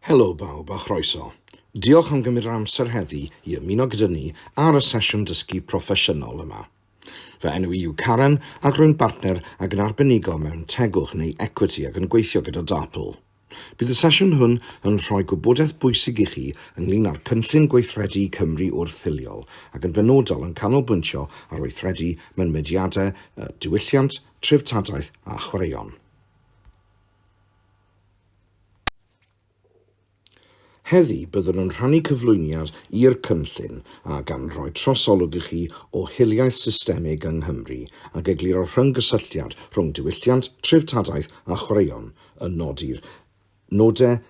Helo bawb a chroeso. Diolch am gymryd yr amser heddi i ymuno gyda ni ar y sesiwn dysgu proffesiynol yma. Fy enw i yw Karen ac rwy'n bartner ac yn arbenigo mewn tegwch neu equity ac yn gweithio gyda Darpl. Bydd y sesiwn hwn yn rhoi gwybodaeth bwysig i chi ynglŷn â'r cynllun gweithredu Cymru Wrth Hiliol ac yn benodol yn canolbwyntio ar weithredu mewn mudiadau y diwylliant, treftadaeth a chwaraeon. Heddi, byddwn yn rhannu cyflwyniad i'r cynllun a gan roi trosolwg i chi o hiliaeth systemig yng Nghymru ac egluro'r rhyng-gysylltiad rhwng diwylliant, treftadaeth a chwaraeon, yn nodi'r nodau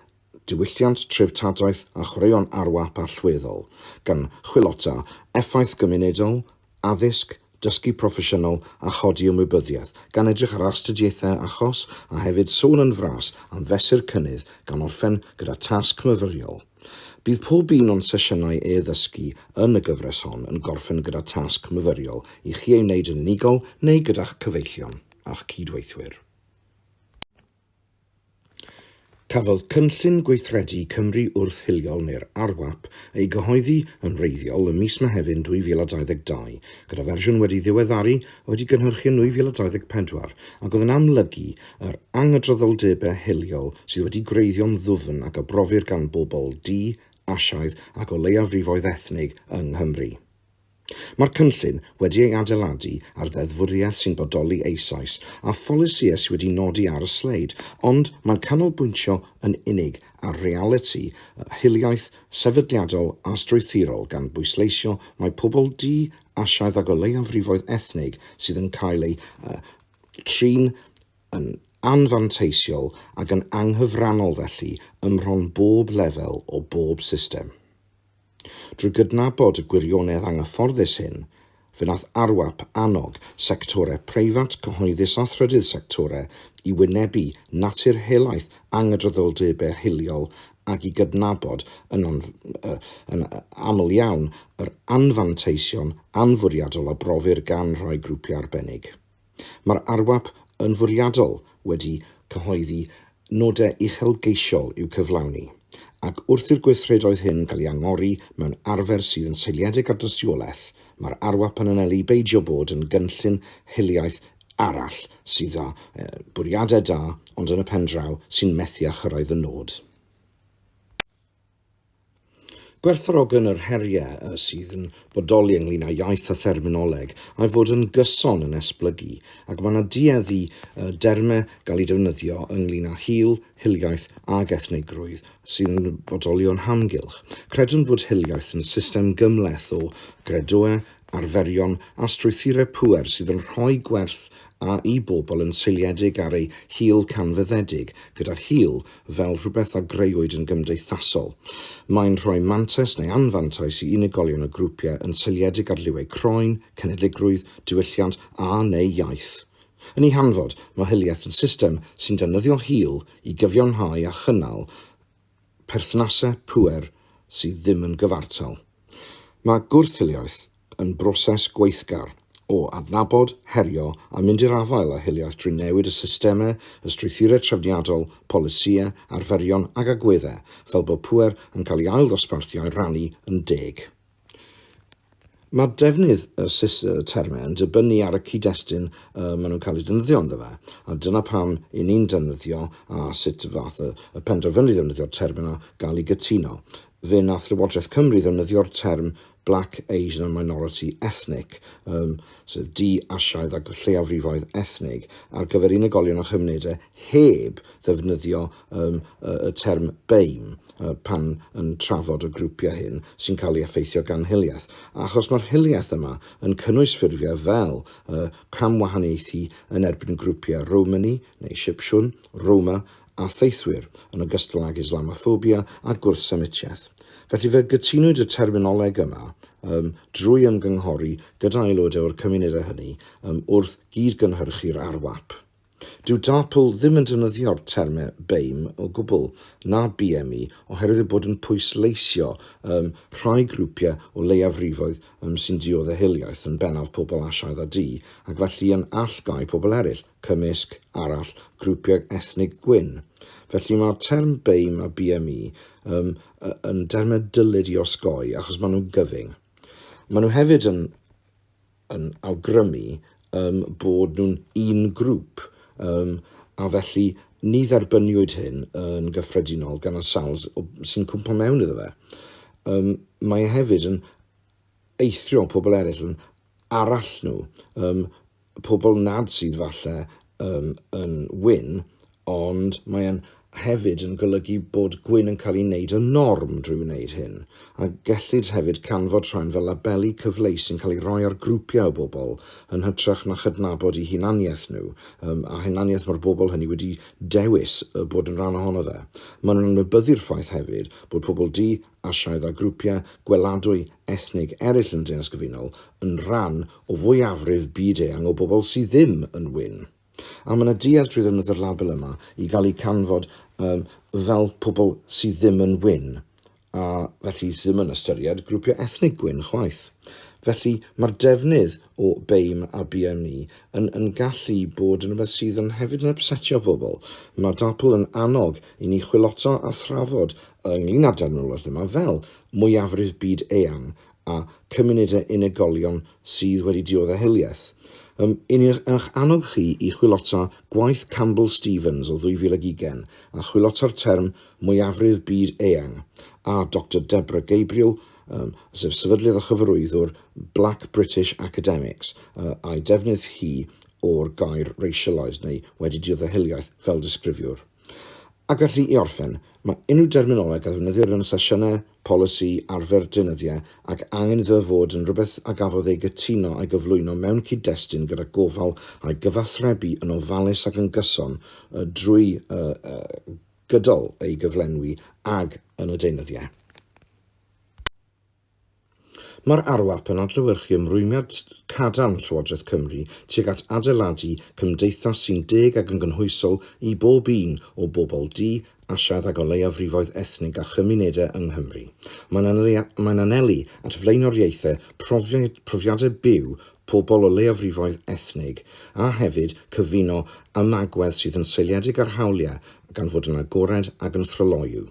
diwylliant, treftadaeth a chwaraeon arwap allweddol, gan chwilota effaith gymunedol, addysg, dysgu proffesiynol a chodi ymwybyddiaeth, gan edrych ar astudiaethau achos a hefyd sôn yn fras am fesur cynnydd gan orffen gyda tasg myfyriol. Bydd pob un o'n sesiynau e-ddysgu yn y gyfres hon yn gorffen gyda tasg myfyriol i chi ei wneud yn unigol neu gyda'ch cyfeillion a'ch cyd-weithwyr. Cafodd Cynllun Gweithredu Cymru Wrth Hiliol neu'r RGWAP ei gyhoeddi yn wreiddiol ym mis Mehefin 2022, gyda fersiwn wedi ddiweddaru a wedi gynhyrchu yn 2024 ac oedd yn amlygu yr angydraddoldebau hiliol sydd wedi gwreiddio'n ddwfn ac a brofir gan bobl du, Asiaidd ac o leiafrifoedd ethnig yng Nghymru. Mae'r cynllun wedi ei adeiladu ar ddeddfwriaeth sy'n bodoli eisoes a pholisïau sydd wedi nodi ar y sleid, ond mae'n canolbwyntio yn unig ar realiti hiliaeth sefydliadol a strwythurol gan bwysleisio mai pobl du, Asiaidd ac o leiafrifoedd ethnig sydd yn cael eu trin yn anfanteisiol ac yn anghyfrannol felly ym mhron bob lefel o bob system. Drwy gydnabod y gwirionedd anghyfforddus hyn, fe wnaeth ARWAP annog sectorau preifat, cyhoeddus a thrydydd sectorau i wynebu natur helaeth angydraddoldebau hiliol ac i gydnabod yn aml iawn yr anfanteision anfwriadol a brofir gan rhai grwpiau arbennig. Mae'r arwap yn fwriadol wedi cyhoeddi nodau uchelgeisiol i'w cyflawni, ac wrth i'r gweithredoedd hyn gael eu angori mewn arfer sydd yn seiliedig ar dystiolaeth, mae'r arwap yn anelu beidio bod yn gynllun hiliaeth arall sydd â bwriadau da ond yn y pendraw sy'n methu â chyrraedd y nod. Gwerthfawrogen yr heriau y sydd yn bodoli ynglŷn â iaith a therminoleg a'i fod yn gyson yn esblygu, ac mae yna duedd i y dermau gael eu defnyddio ynglŷn â hil, hiliaeth ac ethnigrwydd sydd yn bodoli o'n hamgylch. Credwn bod hiliaeth yn system gymhleth o gredoau, arferion a strwythurau pŵer sydd yn rhoi gwerth a'i bobl yn seiliedig ar ei hil canfyddedig, gyda hil fel rhywbeth a greuwyd yn gymdeithasol. Mae'n rhoi mantais neu anfantais i unigolion a grwpiau yn seiliedig ar liwau croen, cenedligrwydd, diwylliant a, neu iaith. Yn ei hanfod, mae hiliaeth yn system sy'n defnyddio hil i gyfiawnhau a chynnal perthnasau pŵer sydd ddim yn gyfartal. Mae gwrth-hiliaeth yn broses gweithgar o adnabod, herio a mynd i'r afael â hiliaeth drwy newid y systemau, y strwythurau trefniadol, polisïau, arferion ac agweddau fel bod pŵer yn cael ei ailddosbarthu a'i rannu yn deg. Mae defnydd y termau yn dibynnu ar y cyd-destun y maen nhw'n cael eu defnyddio ynddo fe, a dyna pam i ni'n defnyddio a sut ddaeth y, y penderfynu ddefnyddio'r term yna, gael ei gytuno. Fe nath Llywodraeth Cymru ddefnyddio'r term Black, Asian and Minority Ethnic, um, sef du, Asiaidd a lleiafrifoedd ethnig, ar gyfer unigolion a chymunedau heb ddefnyddio yym y term 'BEIM' yy pan yn trafod y grwpiau hyn sy'n cael ei effeithio gan hiliaeth, achos mae'r hiliaeth yma yn cynnwys ffurfiau fel y camwahaniaethu yn erbyn grwpiau Romany neu Sipsiwn, Roma, a theithwyr, yn ogystal ag Islamoffobia a gwrthsemitiaeth. Felly, fe gytunwyd y terminoleg yma yym drwy ymgynghori gyda aelodau o'r cymunedau hynny yym wrth gyd-gynhyrchu'r arwap. Dyw DARPL ddim yn defnyddio'r termau BAME o gwbl, na BME, oherwydd eu bod yn pwysleisio ym rhai grwpiau o leiafrifoedd ym sy'n diod a hiliaeth, yn bennaf pobl Asiaidd a du, ac felly yn allgáu pobl eraill, cymysg, arall, grwpiau ethnig gwyn. Felly mae'r term BAME a BME ym yn dermau dylid i osgoi achos maen nhw'n gyfyng. Maen nhw hefyd yn yn awgrymu yym bod nhw'n un grŵp yym a felly ni dderbyniwyd hyn yn gyffredinol gan y sawl sy'n cwmpo mewn iddo fe. Yym, mae e hefyd yn eithrio pobl eraill yn arall nhw, um, pobl nad sydd falle um, yn wyn, Ond mae e'n hefyd yn golygu bod gwin yn cael ei wneud yn norm drwy wneud hyn, a gellid hefyd canfod rhain fel labeli cyfleus sy'n cael ei roi ar grwpiau o bobl yn hytrach na chydnabod eu hunaniaeth nhw, yym, a hunaniaeth mae'r bobl hynny wedi dewis yy bod yn rhan ohono fe. Maen nhw'n anwybyddu'r ffaith hefyd bod pobl du, Asiaidd a grwpiau gweladwy ethnig eraill yn y Deyrnas Gyfunol yn rhan o fwyafrif byd-eang o bobl sydd ddim yn win. A mae yna duedd trwy ddefnydd yr label yma i gael eu canfod um, fel pobl sydd ddim yn wyn, a felly sydd ddim yn ystyried grwpiau ethnig gwyn chwaith. Felly mae'r defnydd o BAME a BME yn, yn gallu bod yn rhywbeth sydd yn hefyd yn upsetio pobl. Mae DAPL yn annog i ni chwilota a thrafod ynglyn â'r derminologaeth yma fel mwyafrif byd eang a chymunedau unigolion sydd wedi diodde' hiliaeth. Ym yn eich annog chi i chwilota gwaith Campbell Stephens o 2020 a chwilota'r term 'mwyafrif byd eang' a Doctor Deborah Gabriel, ym sef sefydlydd a chyfarwyddwr Black British Academics, yy a'i defnydd hi o'r gair 'racialised' neu 'wedi diodde' hiliaeth fel disgrifiwr. A gallu i orffen, mae unrhyw derminoleg a ddefnyddir yn sesiynau, polisi, arfer, deunyddiau ac angen iddo fe fod yn rhywbeth a gafodd ei gytuno a'i gyflwyno mewn cyd-destun gyda gofal a'i gyfathrebu yn ofalus ac yn gyson drwy gydol ei gyflenwi ag yn y deunyddiau. Mae'r arwap yn adlewyrchu ymrwymiad cadarn Llywodraeth Cymru tuag at adeiladu cymdeithas sy'n deg ac yn gynhwysol i bob un o bobl du, Asiaidd ac o leiafrifoedd ethnig a chymunedau yng Nghymru. Mae'n anelu at flaenoriaethau profiadau byw pobl o leiafrifoedd ethnig a hefyd cyfuno ymagwedd sydd yn seiliedig ar hawliau gan fod yn agored ac yn thryloyw.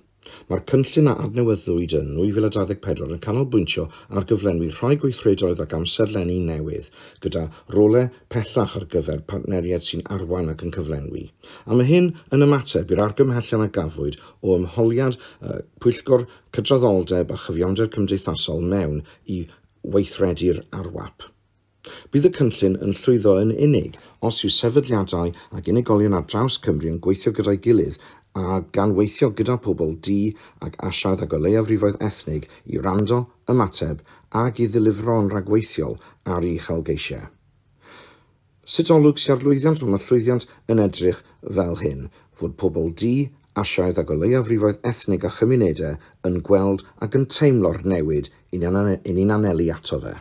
Mae'r cynllun a adnewyddwyd yn 2024 yn canolbwyntio ar gyflenwi rhai gweithredoedd ac amserlenni newydd, gyda rolau pellach ar gyfer partneriaid sy'n arwain ac yn cyflenwi. A mae hyn yn ymateb i'r argymhellion a gafwyd o ymholiad y Pwyllgor Cydraddoldeb a Chyfiawnder Cymdeithasol mewn i weithredu'r RWAP. Bydd y cynllun yn llwyddo yn unig os yw sefydliadau ac unigolion ar draws Cymru yn gweithio gyda'i gilydd a gan weithio gyda phobl du ac Asiaidd ag o leiafrifoedd ethnig i wrando, ymateb ac i ddilifro'n rhagweithiol ar ei uchelgeisiau. Sut olwg sy ar lwyddiant? Wel, mae llwyddiant yn edrych fel hyn, fod pobl du, Asiaidd ac o leiafrifoedd ethnig a chymunedau yn gweld ac yn teimlo'r newid 'yn ni'n anelu ato fe.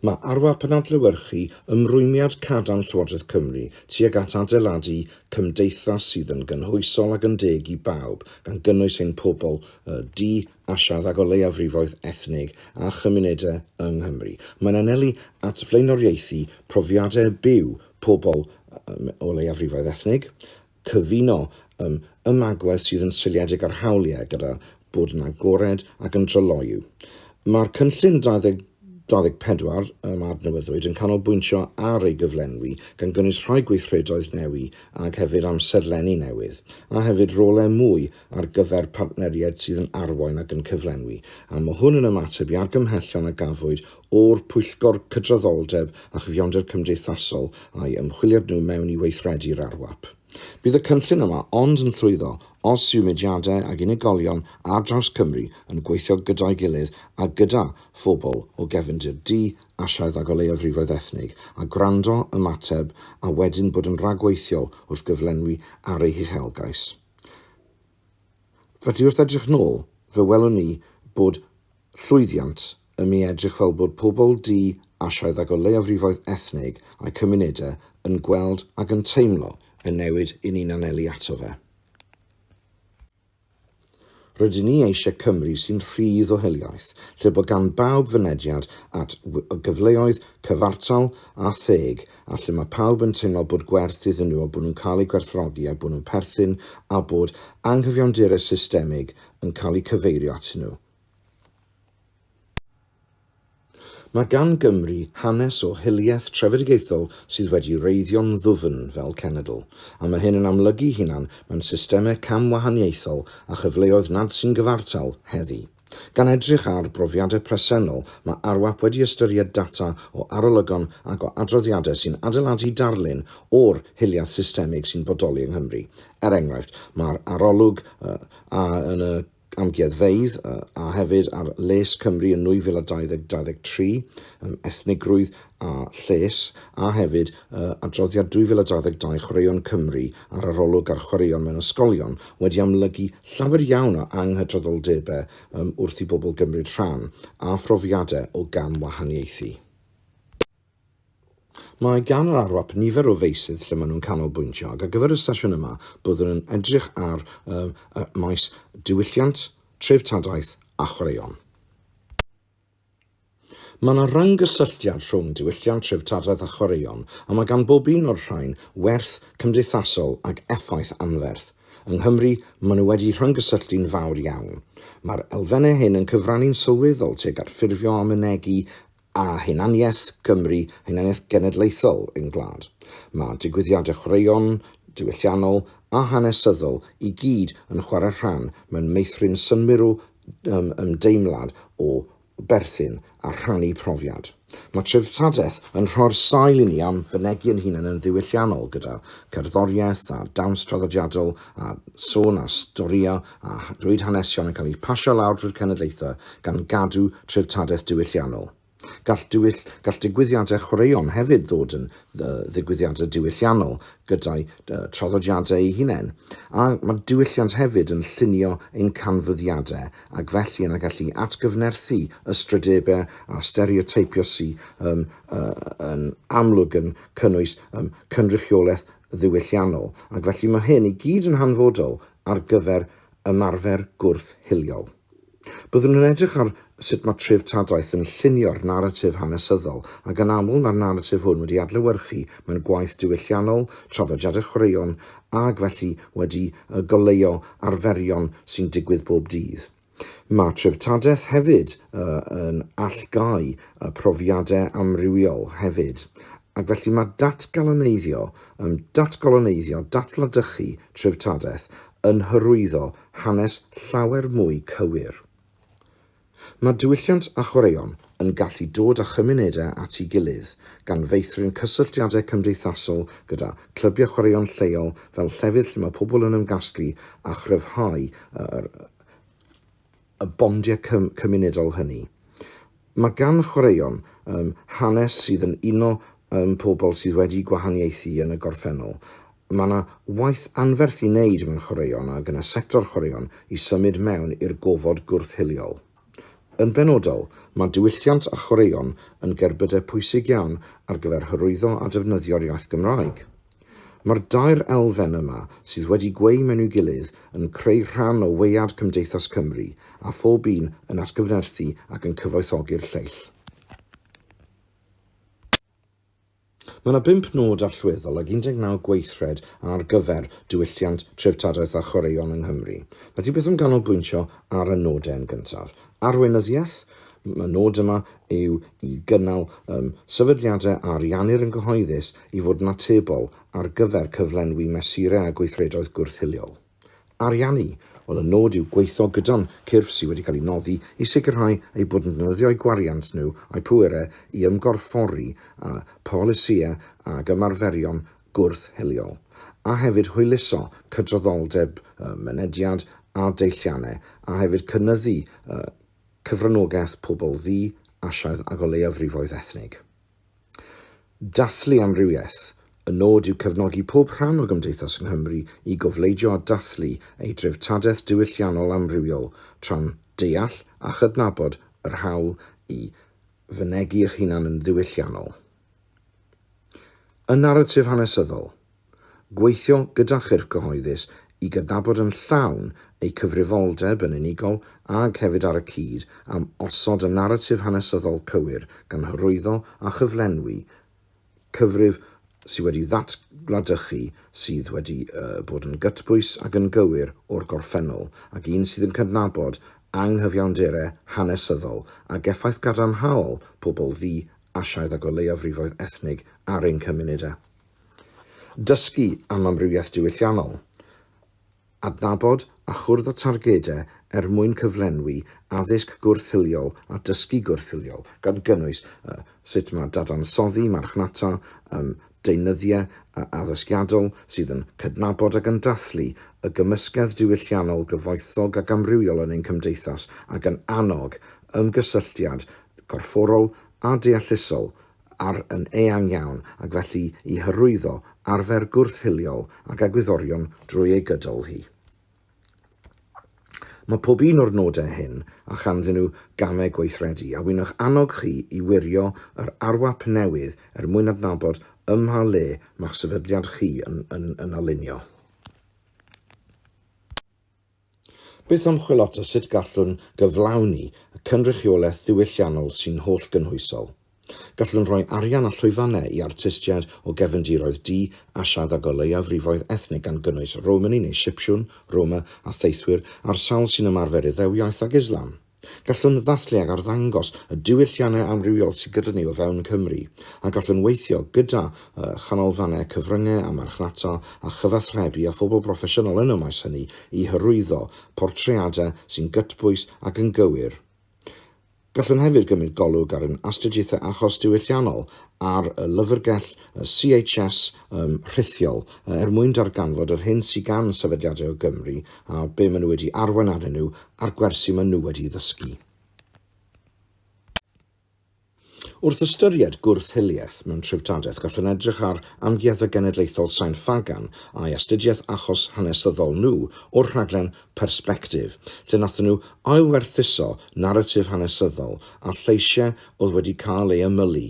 Mae arwah penadlewyrchu ymrwymiad cadarn Llywodraeth Cymru tuag at adeiladu cymdeithas sydd yn gynhwysol ac yn deg i bawb, gan gynnwys ein pobl du a lladd ac o leiafrifoedd ethnig a chymunedau yng Nghymru. Mae'n anelu at flaenoriaethu profiadau byw pobl o leiafrifoedd ethnig, Cyfuno ym ymagwedd sydd yn seiliedig ar hawliau gyda bod yn agored ac yn tryloyw. Mae'r cynllun 2024 ym adnewyddwyd yn canolbwyntio ar ei gyflenwi, gan gynnwys rhoi gweithredoedd newi ac hefyd amserlenni newydd, a hefyd rolau mwy ar gyfer partneriaid sydd yn arwain ac yn cyflenwi, a mae hwn yn ymateb i argymhellion a gafwyd o'r Pwyllgor Cydraddoldeb a Chyfiawnder Cymdeithasol a'i ymchwiliad nhw mewn i weithredu yr RWAP. Bydd y cynllun yma ond yn llwyddo os yw mudiadau ac unigolion ar draws Cymru yn gweithio gyda'i gilydd a gyda phobl o gefndir du, Asiaidd ac o leiafrifoedd ethnig, a gwrando, ymateb a wedyn bod yn rhagweithiol wrth gyflenwi ar eu huchelgais. Felly wrth edrych nôl, fe welwn ni bod llwyddiant yn mi edrych fel bod pobl du, Asiaidd ac o leiafrifoedd ethnig a'u cymunedau yn gweld ac yn teimlo y newid 'yn ni'n anelu ato fe. Rydyn ni eisiau Cymru sy'n rhydd o hiliaeth, lle bod gan bawb fynediad at gyfleoedd cyfartal a theg a lle mae pawb yn teimlo bod gwerth iddyn nhw a bod nhw'n cael eu gwerthfawrogi a'u bod nhw'n perthyn a bod anghyfiawnderau systemig yn cael eu cyfeirio atyn nhw. Mae gan Gymru hanes o hiliaeth trefedigaethol sydd wedi wreiddio'n ddwfn fel cenedl, a mae hyn yn amlygu'i hunan mewn systemau cam-wahaniaethol a chyfleoedd nad sy'n gyfartal heddi. Gan edrych ar brofiadau presennol, mae ARWAP wedi ystyried data o arolygon ac o adroddiadau sy'n adeiladu darlun o'r hiliaeth systemig sy'n bodoli yng Nghymru. Er enghraifft, mae'r arolwg a yn y. amgueddfeydd, a hefyd ar les Cymru yn 2020 23, ethnigrwydd a lles, a hefyd adroddiad 2022 Chwaraeon Cymru a'r arolwg ar chwaraeon mewn ysgolion wedi amlygu llawer iawn o anghydraddoldebau wrth i bobl gymryd rhan, a phrofiadau o gamwahaniaethu. Mae gan yr ARWAP nifer o feysydd lle maen nhw'n canolbwyntio ac ar gyfer y sesiwn yma byddwn yn edrych ar y maes diwylliant, treftadaeth a chwaraeon. Mae yna rhyng-gysylltiad rhwng diwylliant, treftadaeth a chwaraeon a mae gan bob un o'r rhain werth cymdeithasol ac effaith anferth. Yng Nghymru, maen nhw wedi rhyng-gysylltu'n fawr iawn. Mae'r elfennau hyn yn cyfrannu'n sylweddol tuag at ffurfio a mynegi a hunaniaeth Gymru a hunaniaeth genedlaethol ein gwlad. Mae digwyddiadau chwaraeon, diwylliannol a hanesyddol i gyd yn chwarae rhan mewn meithrin synwyrw ymdeimlad o berthyn a rhannu profiad. Mae treftadaeth yn rhoi'r sail i ni am fynegi ein hunain yn ddiwylliannol gyda cherddoriaeth a dawns traddodiadol a sôn a storïau a drwy hanesion yn cael eu pasio lawr drwy'r cenedlaethau gan gadw treftadaeth diwylliannol. Gall diwyll, gall digwyddiadau chwaraeon hefyd ddod yn ddigwyddiadau diwylliannol gyda'u traddodiadau eu hunain, a mae diwylliant hefyd yn llunio ein canfyddiadau ac felly yn gallu atgyfnerthu ystrydebau a stereoteipio sy, yn amlwg yn cynnwys cynrychiolaeth ddiwylliannol, ac felly mae hyn i gyd yn hanfodol ar gyfer ymarfer gwrth hiliol. Byddwn yn edrych ar sut mae treftadaeth yn llunio'r naratif hanesyddol, ac yn aml mae'r naratif hwn wedi adlewyrchu mewn gwaith diwylliannol, traddodiadau chwaraeon, ac felly wedi goleuo arferion sy'n digwydd bob dydd. Mae treftadaeth hefyd yn allgáu y profiadau amrywiol hefyd, ac felly mae datgaloneiddio, ym datgaloneiddio, datblydychu treftadaeth, yn hyrwyddo hanes llawer mwy cywir. Mae diwylliant a chwaraeon yn gallu dod â chymunedau at ei gilydd, gan feithrin cysylltiadau cymdeithasol gyda chlybiau chwaraeon lleol fel llefydd lle mae pobl yn ymgasglu a chryfhau yr y bondiau cym cymunedol hynny. Mae gan chwaraeon um, hanes sydd yn uno um, pobl sydd wedi gwahaniaethu yn y gorffennol. Mae yna waith anferth i wneud mewn chwaraeon ac yn y sector chwaraeon i symud mewn i'r gofod gwrth-hiliol. Yn benodol, mae diwylliant a chwaraeon yn gerbydau pwysig iawn ar gyfer hyrwyddo a defnyddio'r iaith Gymraeg. Mae'r dair elfen yma sydd wedi gweu mewn'i gilydd yn creu rhan o waead Cymdeithas Cymru a phob un yn atgyfnerthu ac yn cyfoethogi'r lleill. Mae yna bump nod allweddol ag 19 gweithred ar gyfer diwylliant, treftadaeth a chwaraeon yng Nghymru. Felly beth am ganolbwyntio ar y nodau yn gyntaf? Arweinyddiaeth, y nod yma yw i gynnal um, sefydliadau a ariannir yn gyhoeddus i fod yn atebol ar gyfer cyflenwi mesurau a gweithredoedd gwrth-hiliol. Ariannu, ond y nod yw gweithio gyda'n cyrff sydd wedi cael eu nodi i sicrhau eu bod yn defnyddio eu gwariant nhw a'u pwerau i ymgorffori â pholisïau ac ymarferion gwrth hiliol, a hefyd hwyluso cydraddoldeb, mynediad a deilliannau, a hefyd cynyddu cyfranogaeth pobl ddu, Asiaidd ac o leiafrifoedd ethnig. Dathlu Amrywiaeth, Y nod yw cefnogi pob rhan o Gymdeithas Nghymru i gofleidio a dathlu ei dreftadaeth diwylliannol amrywiol tra'n deall a chydnabod yr hawl i fynegi eich hunan yn ddiwylliannol. Y Naratif Hanesyddol, Gweithio gyda chyrff cyhoeddus i gydnabod yn llawn eu cyfrifoldeb yn unigol ag hefyd ar y cyd am osod y naratif hanesyddol cywir gan hyrwyddo a chyflenwi cyfrif sydd wedi ddatgladychu sydd wedi bod yn gytbwys ac yn gywir o'r gorffennol ac un sydd yn cydnabod anghyfiawnderau hanesyddol ac effaith gadarnhaol pobl ddu-Asiaidd a goleuafrifoedd ethnig ar ein cymunedau. Dysgu am amrywiaeth diwylliannol. Adnabod a chwrdd â targedau er mwyn cyflenwi addysg gwrth-hiliol a dysgu gwrth-hiliol, gan gynnwys sut mae dadansoddi marchnata yn deunyddiau addysgiadol sydd yn cydnabod ac yn dathlu y gymysgedd diwylliannol gyfoethog ac amrywiol yn ein cymdeithas ac yn annog ymgysylltiad gorfforol a deallusol ar yn eang iawn ac felly i hyrwyddo arfer gwrth-hiliol ac egwyddorion drwy ei gydol hi. Mae pob un o'r nodau hyn a chanddyn nhw gamau gweithredu a wyno'ch annog chi i wirio yr arwap newydd er mwyn adnabod ym mha le mae'ch sefydliad chi yn yn yn alinio. Bydd ymchwil ato sut gallwn gyflawni y cynrychiolaeth ddiwylliannol sy'n hollgynhwysol. Gallwn roi arian a llwyfannau i artistiaid o gefndiroedd du, Asiaidd ag o leiafrifoedd ethnig gan gynnwys Romani neu Sipsiwn, Roma, a theithwyr ar sawl sy'n ymarfer Iddewiaeth ac Islam. Gallwn ddathlu ac arddangos y diwylliannau amrywiol sydd gyda ni o fewn Cymru, a gallwn weithio gyda chanolfannau cyfryngau a marchnata a chyfathrebu â phobl broffesiynol yn y maes hynny i hyrwyddo portreadau sy'n gytbwys ac yn gywir. Gallwn hefyd gymryd golwg ar ein astudiaethau achos diwylliannol ar y lyfrgell CHS ym rhithiol er mwyn darganfod yr hyn sydd gan sefydliadau o Gymru a be maen nhw wedi arwain arnyn nhw a'r gwersi maen nhw wedi'i ddysgu. Wrth ystyried gwrth-hiliaeth mewn treftadaeth gallwn edrych ar Amgueddfa Genedlaethol Sain Ffagan a'i astudiaeth achos hanesyddol nhw o'r rhaglen Perspective, lle nathon nhw ailwerthuso naratif hanesyddol a lleisiau oedd wedi cael ei ymylu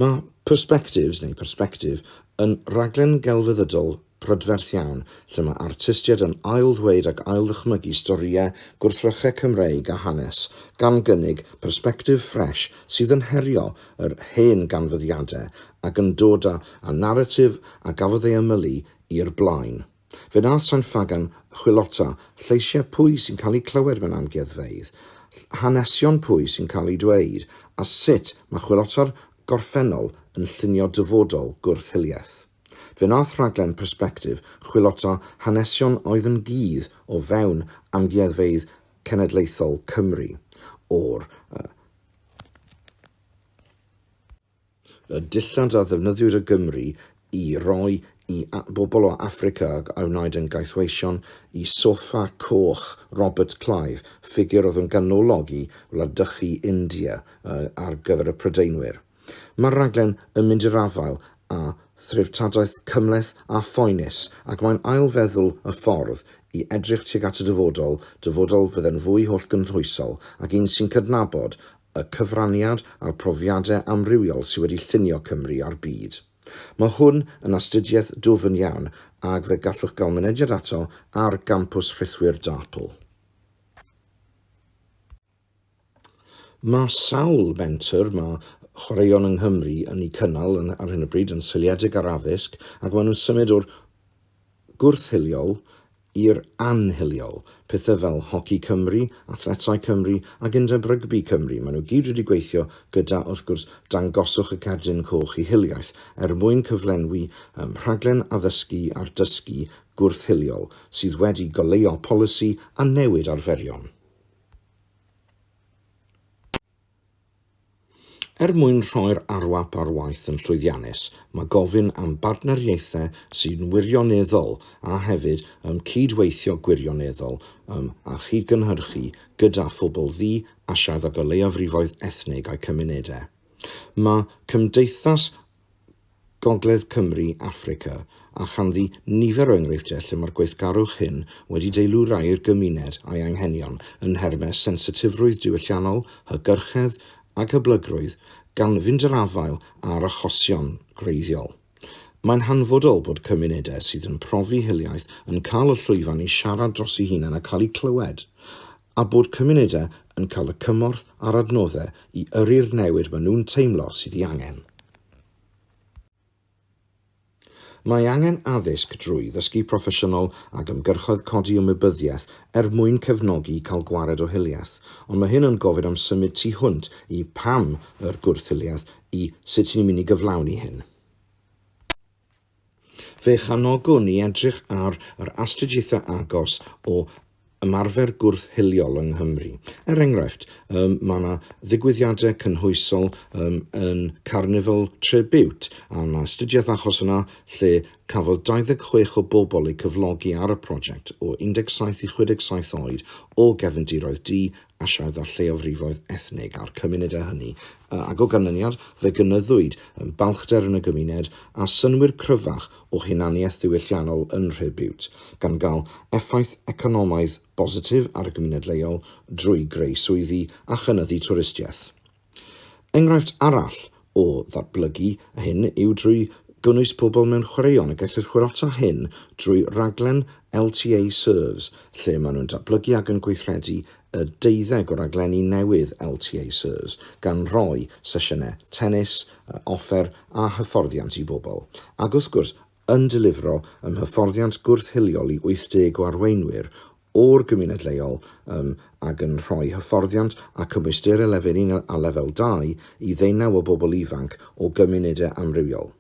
Mae Perspectives, neu Persbectif, yn raglen gelfyddydol prydferth iawn lle mae artistiaid yn ail-ddweud ac ail-ddychmygu storïau gwrthrychau Cymreig a hanes, gan gynnig persbectif ffres sydd yn herio yr hen ganfyddiadau ac yn dod â naratif a gafodd ei ymylu i'r blaen. Fe wnaeth San Ffagan chwilota lleisiau pwy sy'n cael eu clywed mewn amgueddfeydd, hanesion pwy sy'n cael eu dweud, a sut mae chwilota'r gorffennol yn llunio dyfodol gwrth hiliaeth. Fe wnaeth rhaglen Perspective chwilota hanesion oedd yn gudd o fewn amgueddfeydd cenedlaethol Cymru o'r y dillad a ddefnyddiwyd o Gymru i roi i bobl o Affrica a wnaed yn gaethweision i Sofa Coch Robert Clive, ffigur oedd yn ganolog i wladychu India ar gyfer y Prydeinwyr. Mae'r rhaglen yn mynd i'r afael â threftadaeth cymhleth a phoenus ac mae'n ail-feddwl y ffordd i edrych tuag at y dyfodol, dyfodol fydde'n fwy hollgynhwysol ac un sy'n cydnabod y cyfraniad a'r profiadau amrywiol sydd wedi llunio Cymru a'r byd. Mae hwn yn astudiaeth dwfn iawn ac fe gallwch gael mynediad ato ar Gampws Rhithwir Dartpl. Mae sawl menter mae chwaraeon yng Nghymru yn eu cynnal ar hyn o bryd yn seiliedig ar addysg ac maen nhw'n symud o'r gwrth-hiliol i'r anhiliol, pethau fel Hoci Cymru, Athletau Cymru ac Undeb Rygbi Cymru, maen nhw gyd wedi gweithio gyda, wrth gwrs, Dangoswch y Cerdyn Coch i Hiliaeth er mwyn cyflenwi ym rhaglen addysgu a'r dysgu gwrth-hiliol sydd wedi goleuo polisi a newid arferion. Er mwyn rhoi'r arwap ar waith yn llwyddiannus, mae gofyn am bartneriaethau sy'n wirioneddol a hefyd ym cyd-weithio gwirioneddol ym a chyd-gynhyrchu gyda phobl ddu, Asiaidd ac o leiafrifoedd ethnig a'u cymunedau. Mae Cymdeithas Gogledd Cymru, Affrica, a chanddi nifer o enghreifftiau lle mae'r gweithgarwch hyn wedi deilwrau'r gymuned a'i anghenion yn nhermau sensitifrwydd diwylliannol, hygyrchedd ac hyblygrwydd, gan fynd i'r afael â'r achosion gwreiddiol. Mae'n hanfodol bod cymunedau sydd yn profi hiliaeth yn cael y llwyfan i siarad drosi hunain a cael eu clywed. a bod cymunedau yn cael y cymorth a'r adnoddau i yrru'r newid maen nhw'n teimlo sydd ei angen. Mae angen addysg drwy ddysgu proffesiynol ac ymgyrchoedd codi ymwybyddiaeth er mwyn cefnogi i cael gwared o hiliaeth, ond mae hyn yn gofyn am symud tu hwnt i 'pam' yr gwrth-hiliaeth i 'sut' ni'n mynd i gyflawni hyn. Fe chanogwn ni edrych ar yr astudiaethau agos o ymarfer gwrth hiliol yng Nghymru. Er enghraifft, um, mae yna ddigwyddiadau cynhwysol um, yn Carnival Tribute, a yna astudiaeth achos yna lle cafodd 26 o bobl eu cyflogi ar y prosiect o 17 i 67 oed o gefndiroedd du Asiaidd a lleiofrifoedd ethnig a'r cymunedau hynny, ac o ganlyniad, fe gynyddwyd yn balchder yn y gymuned a synnwyr cryfach o hunaniaeth ddiwylliannol yn Nhre Bute, gan gael effaith economaidd bositif ar y gymuned leol drwy greu swyddi a chynyddu twristiaeth. Enghraifft arall o ddatblygu hyn yw drwy gynnwys pobl mewn chwaraeon a gellir chwilota hyn drwy raglen LTA Serves lle maen nhw'n datblygu ac yn gweithredu y deuddeg o raglenni newydd LTA Serves gan roi sesiynau tennis, offer a hyfforddiant i bobl ac wrth gwrs yn delifro yn hyfforddiant gwrth-hiliol i 80 o arweinwyr o'r gymuned leol yn ac yn rhoi hyfforddiant a cymwysterau lefel un a lefel dau i ddeunaw o bobl ifanc o gymunedau amrywiol.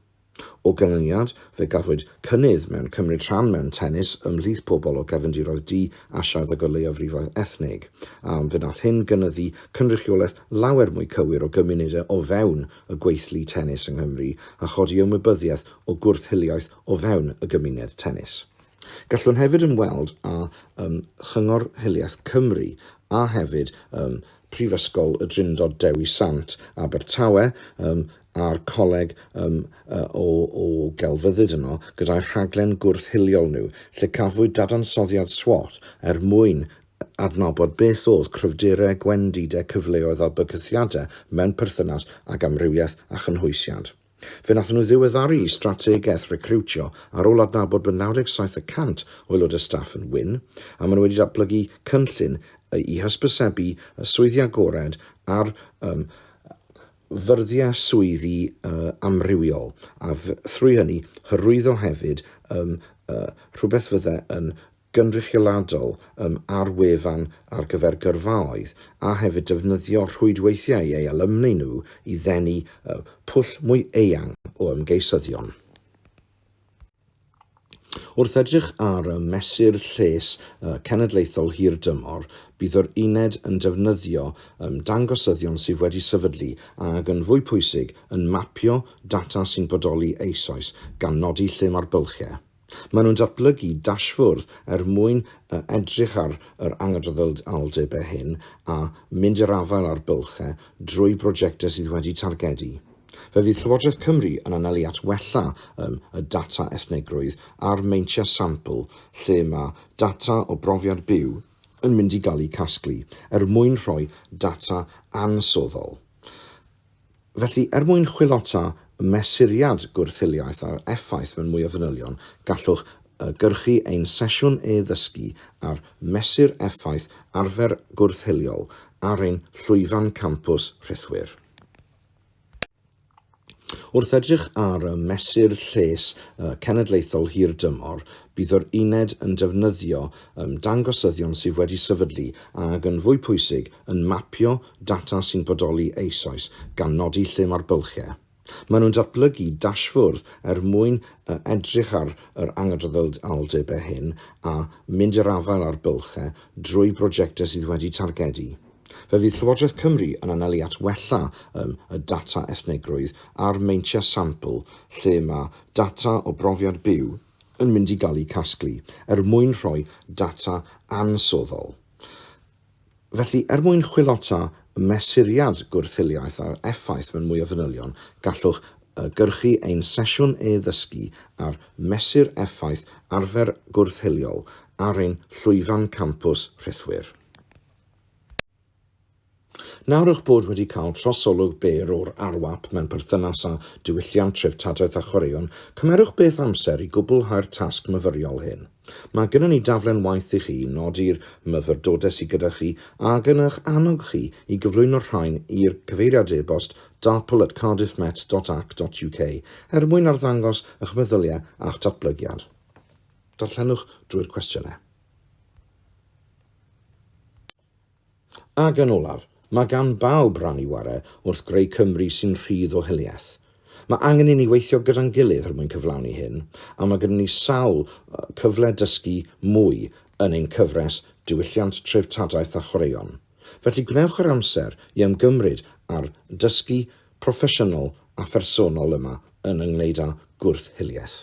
O ganlyniad, fe gafwyd cynnydd mewn cymryd rhan mewn tennis ymhlith pobl o gefndiroedd du, Asiaidd a Gorleuofrifoedd Ethnig, a fe wnaeth hyn gynyddu cynrychiolaeth lawer mwy cywir o gymunedau o fewn y gweithlu tennis yng Nghymru a chodi ymwybyddiaeth o gwrth-hiliaeth o fewn y gymuned tennis. Gallwn hefyd ymweld â um, Chyngor Hiliaeth Cymru a hefyd um, Prifysgol y Drindod Dewi Sant, Abertawe, um, a'r coleg um, o, o gelfyddyd yno gyda'r rhaglen gwrth-hiliol nhw, lle cafwyd dadansoddiad SWOT er mwyn adnabod beth oedd cryfderau gwendidau cyfleoedd a bygythiadau mewn perthynas ag amrywiaeth a chynhwysiant. Fe wnaethon nhw ddiweddaru eu strategaeth recriwtio ar ôl adnabod bod 97 y cant o aelodau staff yn wyn, a maen nhw wedi datblygu cynllun i hysbysebu y swyddi agored ar um, ffurfiau swyddi uh, amrywiol, a thrwy hynny hyrwyddo hefyd um, uh, rhywbeth fyddai yn gynrychioladol yn ar wefan ar gyfer gyrfaoedd a hefyd defnyddio rhwydweithiau ei alumni nhw i ddenu y pwll mwy eang o ymgeisyddion. Wrth edrych ar y Mesur Lles Cenedlaethol Hir Dymor, bydd yr Uned yn defnyddio ymddangosyddion sydd wedi sefydlu ac, yn fwy pwysig, yn mapio data sy'n bodoli eisoes, gan nodi lle mae'r bylchau. Maen nhw'n datblygu dashfwrdd er mwyn edrych ar yr anghydraddoldebau hyn a mynd i'r afael â'r bylchau drwy brojectau sydd wedi targedu. Fe fydd Llywodraeth Cymru yn anelu at wella yn y data ethnigrwydd a'r meintiau sampl lle mae data o brofiad byw yn mynd i gael eu casglu er mwyn rhoi data ansoddol Felly, er mwyn chwilota y mesuriad gwrth-hiliaeth a'r effaith mewn mwy o fanylion, gallwch gyrchu ein sesiwn e-ddysgu ar Mesur Effaith Arfer Gwrth-hiliol ar ein llwyfan campws rhithwir. Wrth edrych ar Mesur Lles Cenedlaethol Hir Dymor, bydd yr Uned yn defnyddio dangosyddion sydd wedi sefydlu ac, yn fwy pwysig, yn mapio data sy'n bodoli eisoes, gan nodi lle mae'r bylchau. Maen nhw'n datblygu dashfwrdd er mwyn edrych ar yr anghydraddoldebau hyn a mynd i'r afael â'r bylchau drwy brojectau sydd wedi targedu. Fe fydd Llywodraeth Cymru yn anelu at wella ym y data ethnigrwydd a'r meintiau sampl lle mae data o brofiad byw yn mynd i gael eu casglu er mwyn rhoi data ansoddol. Felly, er mwyn chwilota y mesuriad gwrth-hiliaeth a'r effaith mewn mwy o fanylion, gallwch gyrchu ein sesiwn e-ddysgu ar Mesur Effaith Arfer Gwrth-hiliol ar ein llwyfan campws rhithwir. Nawr eich bod wedi cael trosolwg byr o'r RWAP mewn perthynas â diwylliant, treftadaeth a chwaraeon, cymerwch beth amser i gwblhau'r tasg myfyriol hyn. Mae gynnon ni daflen waith i chi, nodi'r myfyrdodau sydd gyda chi ac yn eich annog chi i gyflwyno'r rhain i'r cyfeiriad e-bost darpl at cardiffmet dot ac dot uk er mwyn arddangos eich meddyliau a'ch datblygiad. Darllenwch drwy'r cwestiynau. Ac yn olaf, mae gan bawb ran i ware wrth greu Cymru sy'n rhydd o hiliaeth. Mae angen i ni weithio gyda'n gilydd er mwyn cyflawni hyn, a mae gyda ni sawl cyfle dysgu mwy yn ein cyfres Diwylliant, Treftadaeth a Chwaraeon. Felly gwnewch yr amser i ymgymryd â'r dysgu proffesiynol a phersonol yma yn ynghyd â gwrth-hiliaeth.